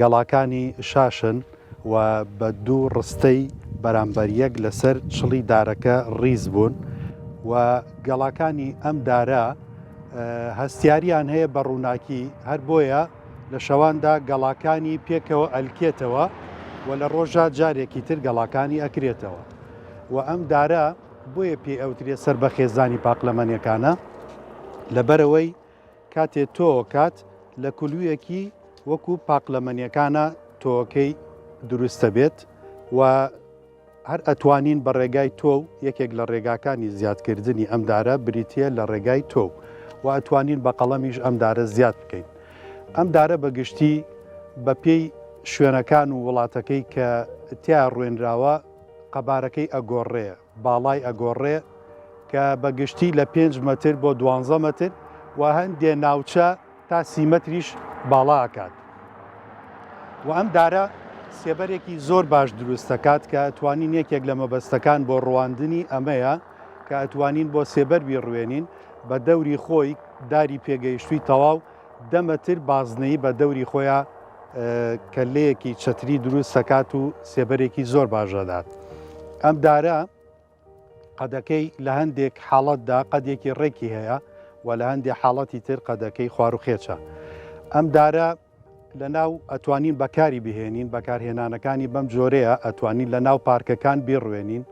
گەڵاکانی شاشن و بە دوو ڕستەی بەرامبەر یەک لەسەر چڵی دارەکە ڕیز بوون و گەڵاکانی ئەم دارە هەستیاریان هەیە بە ڕووناکی هەر بۆیە لە شەواندا گەڵاکانی پێکەوە ئەلکێتەوە و لە ڕۆژە جارێکی تر گەڵاکانی ئەکرێتەوە و ئەم دارە بۆیە پێ ئەوترێ سەر بە خێزانی پاقلەمەنیەکانە لەبەرەوەی کاتێ تۆوکات لە کولویەکی وەکو پاقلەمەنیەکانە تۆوەکەی دروست دەبێت و هەر ئەتوانین بە ڕێگای تۆو یەکێک لە ڕێگاکانی زیادکردنی ئەم دارە بریتە لە ڕێگای تۆو و ئەتوانین بە قەڵەمیش ئەم دارە زیاد بکەین ئەم دارە بە گشتی بە پێی شوێنەکان و وڵاتەکەی کە تیا ڕوێنراوە قەبارەکەی ئەگۆڕەیە باڵای ئەگۆڕێ کە بە گشتی لە پێنج مەتر بۆ دوانزە مەتر و هەندێ ناوچە تا سی مەتریش باڵا ئەکات و ئەم دارە سێبەرێکی زۆر باش دروست دەکات کە ئەتوانین یەکێک لە مەبەستەکان بۆ ڕواندنی ئەمەیە کە ئەتوانین بۆ سێبەر بیڕوێنین بە دەوری خۆی داری پێگەیشتووی تەواو دە مەتر بازنەیی بە دەوری خۆیان کەلەیەکی چەتری دروست سەکات و سێبەرێکی زۆر باش دەدات. ئەم دارە قەدەکەی لە هەندێک حاڵەتدا قەدێکی ڕێکی هەیە و لە هەندێ حاڵەتی تر قەدەکەی خواروخێچە. ئەم دارە لە ناو ئەتوانین بەکاری بهێنین بەکارهێنانەکانی بەم جۆرەیە ئەتوانین لە ناو پارکەکان بیڕوێنین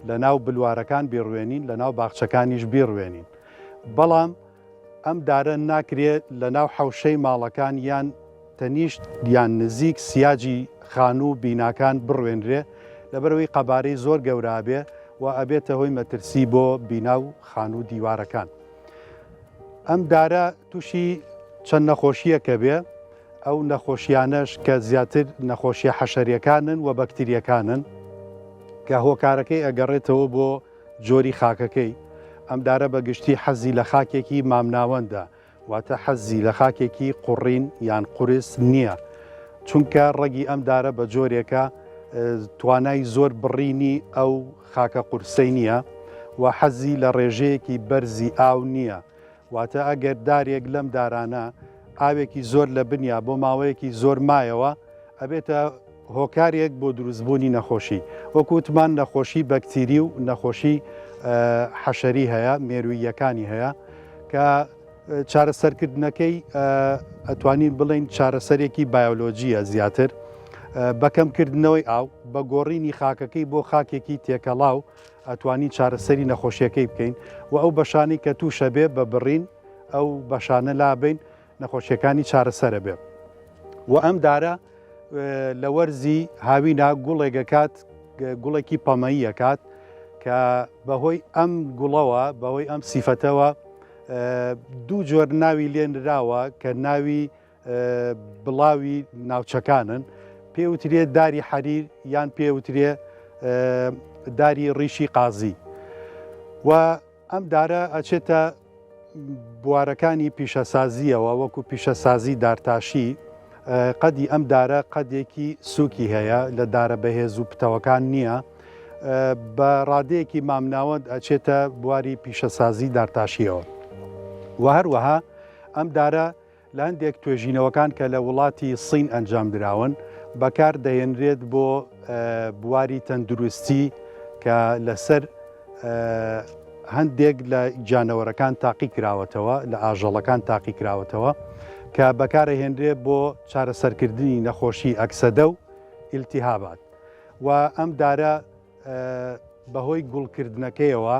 لە ناو بلوارەکان بیڕوێنین لە ناو باخچەکانیش بیڕوێنین بەڵام ئەم دارە ناکرێ لە ناو حەوشەی ماڵەکان یان تەنیشت یان نزیک سیاجی خانوو و بیناکان بڕوێنرێ لەبەرئەوەی قەبارەی زۆر گەورە ئەبێ و ئەبێتە هۆی مەترسی بۆ بینا و خانوو و دیوارەکان. ئەم دارە تووشی چەند نەخۆشییەک ئەبێ، ئەو نەخۆشییانەش کە زیاتر نەخۆشییە حەشەرییەکانن و بەکترییەکانن کە هۆکارەکەی ئەگەڕێتەوە بۆ جۆری خاکەکەی، ئەم دارە بە گشتی حەزی لە خاکێکی مامناوەندە، واتە حەزی لە خاکێکی قوڕین یان قورس نییە، چونکە ڕەگی ئەم دارە بە جۆرێکە توانای زۆر بڕینی ئەو خاکە قورسەی نییە و حەزی لە ڕێژەیەکی بەرزی ئاو نییە، واتە ئەگەر دارێک لەم دارانە ئاوێکی زۆر لە بنیا بۆ ماوەیەکی زۆر مایەوە ئەبێتە. هۆکارێک بۆ دروستبوونی نەخۆشی وەک وتمان نەخۆشی بەکتیری و نەخۆشی حەشەری هەیە مێروییەکانی هەیە کە چارەسەرکردنەکەی ئەتوانین بڵین چارەسەرێکی بایۆلۆجیە زیاتر بەکەمکردنەوەی ئاو بە گۆڕینی خاکەکەی بۆ خاکێکی تێکەڵاو ئەتوانین چارەسەری نەخۆشیەکەی بکەین و ئەو بەشانی کە تووشە بێ بە بڕین ئەو بەشانە لابین نەخۆشیەکانی چارەسەرە بێ و ئەم دارە لە وەرزی هاوینا گوڵێگەکات گوڵێکی پەمەییەکات کە بەهۆی ئەم گوڵەوە بەهۆی ئەم سیفەتەوە دوو جۆر ناوی لێنراوە کە ناوی بڵاوی ناوچەکانن پێوترێ داری حەریر یان پێوترێ داری ڕیشی قازی و ئەم دارە ئەچێتە بوارەکانی پیشەسازیەوە وەکو پیشەسازی دارتاشی قەدی ئەم دارە قەدێکی سووکی هەیە لە دارە بەهێز و پتەوەکان نییە بە ڕادەیەکی مامناوەند ئەچێتە بواری پیشەسازی دارتاشیەوە و هەروەها ئەم دارە لە هەندێک توێژینەوەکان کە لە وڵاتی سین ئەنجام دراون بەکار دەهێنرێت بۆ بواری تەندروستی کە لەسەر هەندێک لە گیانەوەرەکان تاقی کراوەتەوە لە ئاژەڵەکان تاقی کراوەتەوە کە بەکارە هێنرێت بۆ چارەسەرکردنی نەخۆشی ئەکسەدە و ئیلتیهابات و ئەم دارە بەهۆی گوڵکردنەکەیەوە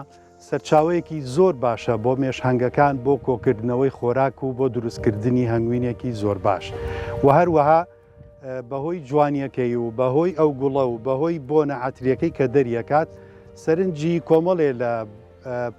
سەرچاوەیەکی زۆر باشە بۆ مێشهنگەکان بۆ کۆکردنەوەی خۆراک و بۆ دروستکردنی هەنگوینێکی زۆر باش و هەروەها بەهۆی جوانیەکەی و بەهۆی ئەو گوڵە و بەهۆی بۆنە عتریەکەی کە دەریەکات سەرنجی کۆمەڵێ لە